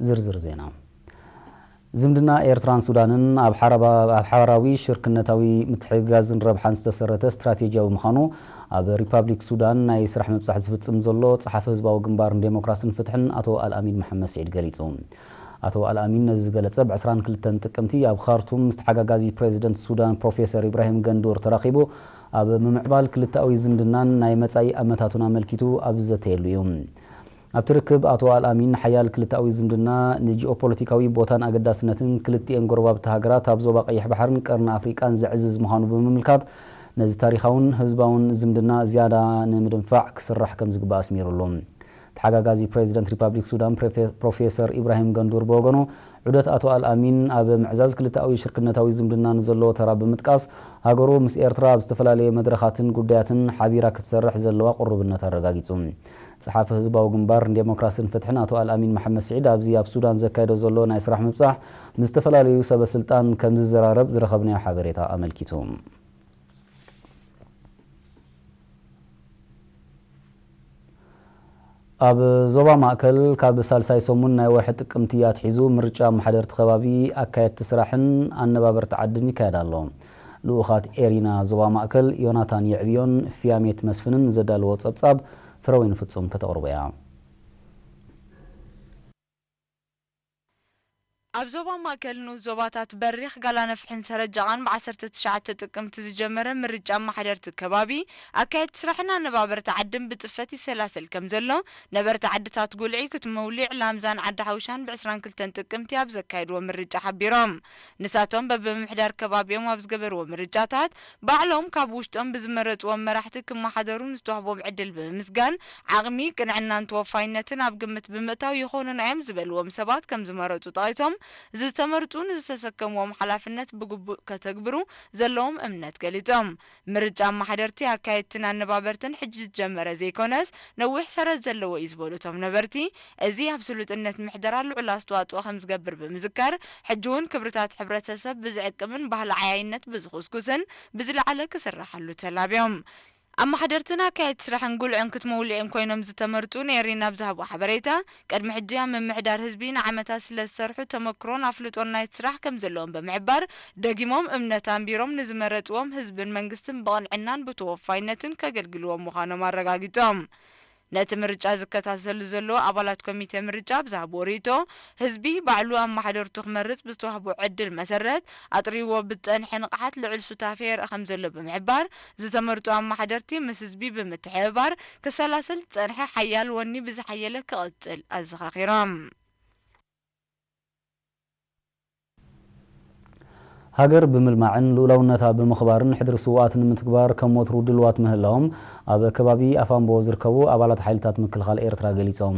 ዝርዝር ዜና ዝምድና ኤርትራን ሱዳንን ኣብ ሓባራዊ ሽርክነታዊ ምትሕግጋዝን ረብሓን ዝተሰረተ ስትራቴጂያዊ ምዃኑ ኣብ ሪፓብሊክ ሱዳን ናይ ስራሕ ምብጻሕ ዝፍጽም ዘሎ ጸሓፊ ህዝባዊ ግንባር ንዴሞክራስን ፍትሕን ኣቶ ኣልኣሚን መሓመድ ስዒድ ገሊጹ። ኣቶ ኣልኣሚን ነዚ ዝገለጸ ብ 22 ጥቅምቲ ኣብ ኻርቱም ምስ ተሓጋጋዚ ፕሬዚደንት ሱዳን ፕሮፌሰር ኢብራሂም ገንዱር ተራኺቡ ኣብ ምምዕባል ክልተኣዊ ዝምድናን ናይ መጻኢ ኣመታቱን ኣመልኪቱ ኣብ ዝዘተየሉ እዩ። ኣብቲ ርክብ ኣቶ ኣልኣሚን ንሓያል ክልተኣዊ ዝምድና፣ ንጂኦፖለቲካዊ ቦታን ኣገዳስነትን ክልቲኤን ጎረባብቲ ሃገራት ኣብ ዞባ ቀይሕ ባሕርን ቀርኒ ኣፍሪቃን ዘዕዝዝ ምዃኑ ብምምልካት፣ ነዚ ታሪኻውን ህዝባውን ዝምድና ዝያዳ ንምድንፋዕ ክስራሕ ከምዝግባእ ኣስሚሩሉ። ተሓጋጋዚ ፕረዚደንት ሪፓብሊክ ሱዳን ፕሮፌሰር ኢብራሂም ገንዱር ብወገኑ፣ ዑደት ኣቶ ኣልኣሚን ኣብ ምዕዛዝ ክልተኣዊ ሽርክነታዊ ዝምድና ንዘለዎ ተራ ብምጥቃስ፣ ሃገሩ ምስ ኤርትራ ኣብ ዝተፈላለየ መድረኻትን ጉዳያትን ሓቢራ ክትሰርሕ ዘለዋ ቅሩብነት ኣረጋጊጹ። ጸሓፊ ህዝባዊ ግንባር ንዴሞክራስን ፍትሕን ኣቶ ኣልኣሚን መሓመድ ስዒድ ኣብዚ ኣብ ሱዳን ዘካይዶ ዘሎ ናይ ስራሕ ምብጻሕ ምስ ዝተፈላለዩ ሰበ ስልጣን ከምዝዘራረብ ዝረኸብናዮ ሓበሬታ ኣመልኪቱ። ኣብ ዞባ ማእከል ካብ ሳልሳይ ሰሙን ናይ ወርሒ ጥቅምቲ ኣትሒዙ ምርጫ ኣመሓደርቲ ከባቢ፣ ኣካየድቲ ስራሕን ኣነባበርቲ ዓድን ይካየድ ኣሎ። ልኡኻት ኤሪና ዞባ ማእከል ዮናታን የዕብዮን ፍያሜት መስፍንን ዘዳለዎ ጸብጻብ ፍረወይኒ ፍጹም ከተቕርቦ እያ። ኣብ ዞባ ማእከል ንኡስ ዞባታት በሪኽ፣ ጋላነፍሒን ሰረጃቓን ብ ዓሰርተ ትሽዓተ ጥቅምቲ ዝጀመረ ምርጫ ኣመሓደርቲ ከባቢ፣ ኣካየድቲ ስራሕን ኣነባበርቲ ዓድን ብጽፈት ይሰላሰል ከምዘሎ ነበርቲ ዓድታት ጉልዒ፣ ክትመውሊዕ፣ ላምዛን ዓዲ ሓውሻን ብ ዕስራን ክልተን ጥቅምቲ ኣብ ዘካየድዎ ምርጫ ሓቢሮም። ንሳቶም በብምምሕዳር ከባቢኦም ኣብ ዝገበርዎ ምርጫታት ባዕሎም ካብ ውሽጦም ብዝመረፅዎም መራሕቲ ክመሓደሩ ንዝተዋህቦም ዕድል ብምምስጋን ዓቕሚ፣ ቅንዕናን ተወፋይነትን ኣብ ግምት ብምእታው ይኾኑና እዮም ዝበልዎም ሰባት ከምዝመረፁ ጠቒሶም ዝተመርፁ ንዝተሰከምዎም ሓላፍነት ብግቡእ ከተግብሩ ዘለዎም እምነት ገሊፆም። ምርጫ ኣማሓደርቲ፣ ኣካየድትን ኣነባበርትን ሕጂ ዝጀመረ ዘይኮነስ ነዊሕ ሰረት ዘለዎ እዩ ዝበሉ እቶም ነበርቲ፣ እዚ ኣብ ስሉጥነት ምሕደራ ልዑል ኣስተዋፅኦ ከምዝገብር ብምዝካር፣ ሕጂ'ውን ክብርታት ሕብረተሰብ ብዝዕቅብን ባህሊ ዓያይነት ብዝኹስኩስን ብዝለዓለ ክስራሓሉ ተላብዮም። ኣማሓደርትን ኣካየድቲ ስራሕን ጉልዕን ክትሞውልዒን ኮይኖም ዝተመርፁ ንኤሪና ኣብ ዝሃብዎ ሓበሬታ፣ ቅድሚ ሕጂ ኣብ ምምሕዳር ህዝቢ ንዓመታት ስለዝሰርሑ ተመክሮን ኣፍልጦን ናይቲ ስራሕ ከምዘለዎም ብምሕባር፣ ደጊሞም እምነት ኣንቢሮም ንዝመረጽዎም ህዝብን መንግስትን ብቕንዕናን ብተወፋይነትን ከገልግልዎም ምዃኖም ኣረጋጊጾም። ነቲ ምርጫ ዝከታተሉ ዘለዉ ኣባላት ኮሚቴ ምርጫ ኣብ ዝሃብዎ ርእይቶ፣ ህዝቢ ባዕሉ ኣመሓደርቱ ክመርጽ ብዝተዋህቦ ዕድል መሰረት ኣጥርይዎ ብዝጸንሐ ንቕሓት ልዑል ሱታፌ የርኢ ከምዘሎ ብምሕባር፣ ዝተመርጹ ኣማሓደርቲ ምስ ህዝቢ ብምትሕብባር ክሰላሰል ዝጸንሐ ሓያል ወኒ ብዝሓየለ ክቕጽል ኣዘኻኺሮም። ሃገር ብምልማዕን ልኡላውነታ ብምኽባርን ሕድሪ ስውኣት ንምትግባር ከም ወትሩ ድሉዋት ምህላዎም ኣብ ከባቢ ኣፋምቦ ዝርከቡ ኣባላት ሓይልታት ምክልኻል ኤርትራ ገሊጾም።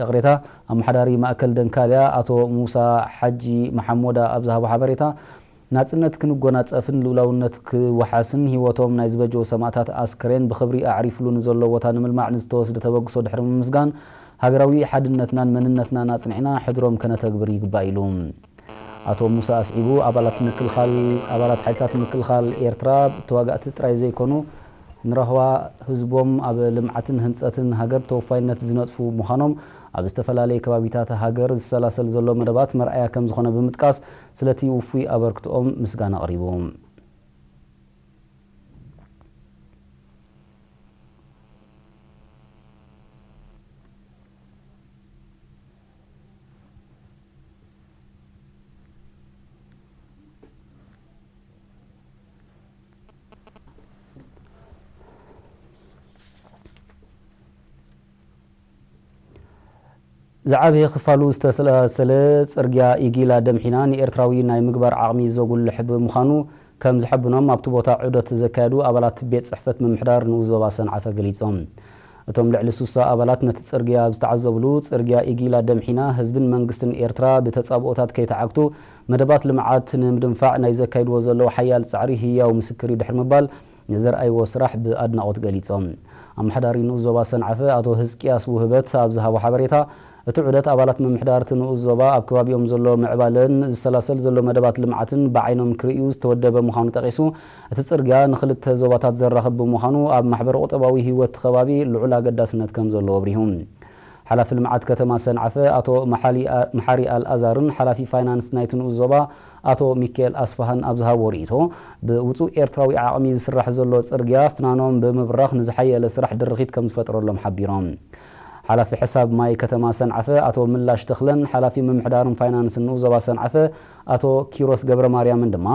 ይቕሬታ፣ ኣመሓዳሪ ማእከል ደንካልያ ኣቶ ሙሳ ሓጂ መሓሞዳ ኣብ ዝሃቦ ሓበሬታ፣ ናጽነት ክንጎናጸፍን ልኡላውነት ክወሓስን ህይወቶም ናይ ዝበጀዉ ሰማእታት ኣስከሬን ብኽብሪ ኣዕሪፍሉ ንዘሎ ቦታ ንምልማዕ ንዝተወስደ ተበግሶ ድሕሪ ምምስጋን፣ ሃገራዊ ሓድነትናን መንነትናን ኣጽኒዕና ሕድሮም ከነተግብር ይግባእ ኢሉ። ኣቶ ሙሳ ኣስዒቡ፣ ኣባላት ምክልኻል ኣባላት ሓይልታት ምክልኻል ኤርትራ ተዋጋእቲ ጥራይ ዘይኮኑ፣ ንራህዋ ህዝቦም ኣብ ልምዓትን ህንፀትን ሃገር ተወፋይነት ዝነጥፉ ምዃኖም ኣብ ዝተፈላለየ ከባቢታት ሃገር ዝሰላሰል ዘሎ መደባት መርኣያ ከምዝኾነ ብምጥቃስ ስለቲ ውፉይ ኣበርክትኦም ምስጋና ኣቕሪቡ። ዝዓበየ ክፋሉ ዝተሰላሰለ ጽርግያ ኢጊላ ደምሒና ንኤርትራዊ ናይ ምግባር ዓቕሚ ዘጉልሕ ብምዃኑ ከም ዝሐብኖም ኣብቲ ቦታ ዑደት ዘካየዱ ኣባላት ቤት ጽሕፈት ምምሕዳር ንኡስ ዞባ ሰንዓፈ ገሊጾም። እቶም ልዕሊ ሱሳ ኣባላት ነቲ ጽርግያ ኣብ ዝተዓዘብሉ፣ ጽርግያ ኢጊላ ደምሒና ህዝብን መንግስትን ኤርትራ ብተጻብኦታት ከይተዓግቱ መደባት ልምዓት ንምድንፋዕ ናይ ዘካይድዎ ዘለዉ ሓያል ፃዕሪ ህያው ምስክር እዩ ድሕሪ ምባል ንዘርኣይዎ ስራሕ ብኣድናቖት ገሊፆም። ኣመሓዳሪ ንኡስ ዞባ ሰንዓፈ ኣቶ ህዝቅያስ ውህበት ኣብ ዝሃቦ ሓበሬታ፣ እቲ ዑደት ኣባላት ምምሕዳር እቲ ንኡስ ዞባ ኣብ ከባቢኦም ዘሎ ምዕባለን ዝሰላሰል ዘሎ መደባት ልምዓትን ብዓይኖም ክርእዩ ዝተወደበ ምዃኑ ጠቒሱ፣ እቲ ፅርግያ ንኽልተ ዞባታት ዘራኽብ ብምዃኑ ኣብ ማሕበረ-ቁጠባዊ ህይወት እቲ ከባቢ ልዑል ኣገዳስነት ከምዘለዎ ኣብሪሁ። ሓላፊ ልምዓት ከተማ ሰንዓፈ ኣቶ መሓሪ ኣልኣዛርን ሓላፊ ፋይናንስ ናይቲ ንኡስ ዞባ ኣቶ ሚኪኤል ኣስፍሃን ኣብ ዝሃብዎ ርኢቶ፣ ብውጹእ ኤርትራዊ ዓቕሚ ዝስራሕ ዘሎ ጽርግያ ፍናኖም ብምብራኽ ንዝሓየለ ስራሕ ድርኺት ከምዝፈጥረሎም ሓቢሮም። ሓላፊ ሕሳብ ማይ ከተማ ሰንዓፈ ኣቶ ምላሽ ተኽለን ሓላፊ ምምሕዳርን ፋይናንስን ንኡስ ዞባ ሰንዓፈ ኣቶ ኪሮስ ገብረማርያምን ድማ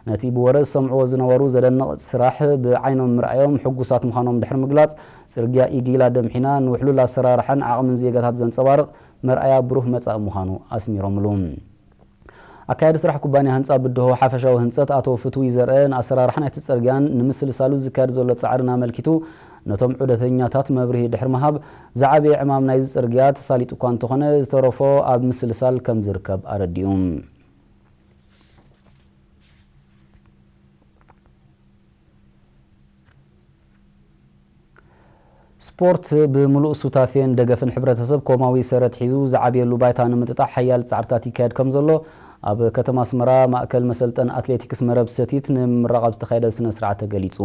ነቲ ብወረ ዝሰምዕዎ ዝነበሩ ዘደንቕ ስራሕ ብዓይኖም ምርኣዮም ሕጉሳት ምዃኖም ድሕሪ ምግላጽ ጽርግያ ኢጊላ ደምሒና ንውሕሉል ኣሰራርሓን ዓቕምን ዜጋታት ዘንጸባርቕ መርኣያ ብሩህ መጻኢ ምዃኑ ኣስሚሮምሉ። ኣካያዲ ስራሕ ኩባንያ ህንጻ ብድሆ ሓፈሻዊ ህንጸት ኣቶ ፍትዊ ዘርአ ንኣሰራርሓ ናይቲ ጽርግያን ንምስልሳሉ ዝካየድ ዘሎ ጻዕርን ኣመልኪቱ ነቶም ዑደተኛታት መብርሂ ድሕሪ ምሃብ ዝዓበየ ዕማም ናይዚ ጽርግያ ተሳሊጡ እኳ እንተኾነ ዝተረፎ ኣብ ምስልሳል ከምዝርከብ ኣረዲኡ። ስፖርት ብምሉእ ሱታፌን ደገፍን ሕብረተሰብ ኮማዊ ሰረት ሒዙ ዝዓብየሉ ባይታ ንምጥጣሕ ሓያል ፃዕርታት ይካየድ ከምዘሎ ኣብ ከተማ ኣስመራ ማእከል መሰልጠን ኣትሌቲክስ መረብ ሰቲት ንምምራቕ ኣብ ዝተኻየደ ስነ ስርዓት ተገሊፁ።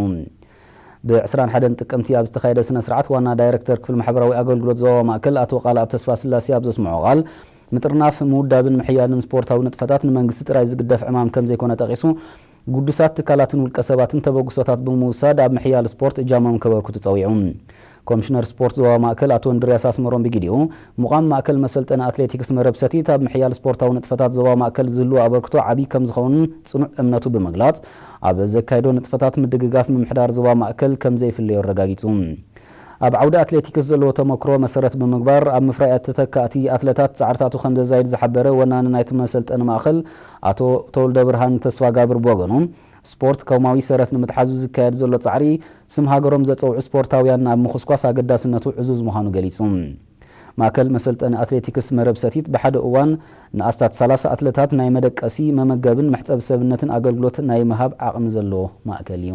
ብ ዕስራን ሓደን ጥቅምቲ ኣብ ዝተኻየደ ስነ ስርዓት ዋና ዳይረክተር ክፍሊ ማሕበራዊ ኣገልግሎት ዞባዊ ማእከል ኣቶ ቃልኣብ ተስፋስላሴ ኣብ ዘስምዖ ቃል ምጥርናፍ፣ ምውዳብን ምሕያልን ስፖርታዊ ንጥፈታት ንመንግስቲ ጥራይ ዝግደፍ ዕማም ከምዘይኮነ ጠቒሱ ግዱሳት ትካላትን ውልቀ ሰባትን ተበግሶታት ብምውሳድ ኣብ ምሕያል ስፖርት እጃሞም ከበርክቱ ፀዊዑ። ኮምሽነር ስፖርት ዞባ ማእከል ኣቶ እንድርያስ ኣስመሮም ብጊዲኡ፣ ምቛም ማእከል መሰልጠኒ ኣትሌቲክስ መረብ ሰቲት ኣብ ምሕያል ስፖርታዊ ንጥፈታት ዞባ ማእከል ዝህልዎ ኣበርክቶ ዓብዪ ከምዝኸውን ፅኑዕ እምነቱ ብምግላፅ፣ ኣብ ዘካይዶ ንጥፈታት ምድግጋፍ ምምሕዳር ዞባ ማእከል ከምዘይፍለዮ ኣረጋጊፁ። ኣብ ዓውዲ ኣትሌቲክስ ዘለዎ ተሞክሮ መሰረት ብምግባር ኣብ ምፍራይ ተተካእቲ ኣትለታት ፃዕርታቱ ከምዘዛይድ ዝሓበረ ወናኒ ናይቲ መሰልጠኒ ማእኸል ኣቶ ተወልደብርሃን ተስፋጋብር ብወገኑ፣ ስፖርት ኮማዊ ሰረት ንምትሓዙ ዝካየድ ዘሎ ጻዕሪ፣ ስም ሃገሮም ዘጸውዑ ስፖርታውያን ኣብ ምኹስኳስ ኣገዳስነቱ ዕዙዝ ምዃኑ ገሊጹ። ማእከል መሰልጠኒ ኣትሌቲክስ መረብ ሰቲት ብሓደ እዋን ንኣስታት ሰላሳ ኣትለታት ናይ መደቀሲ፣ መመገብን መሕጸቢ ሰብነትን ኣገልግሎት ናይ ምሃብ ዓቕሚ ዘለዎ ማእከል እዩ።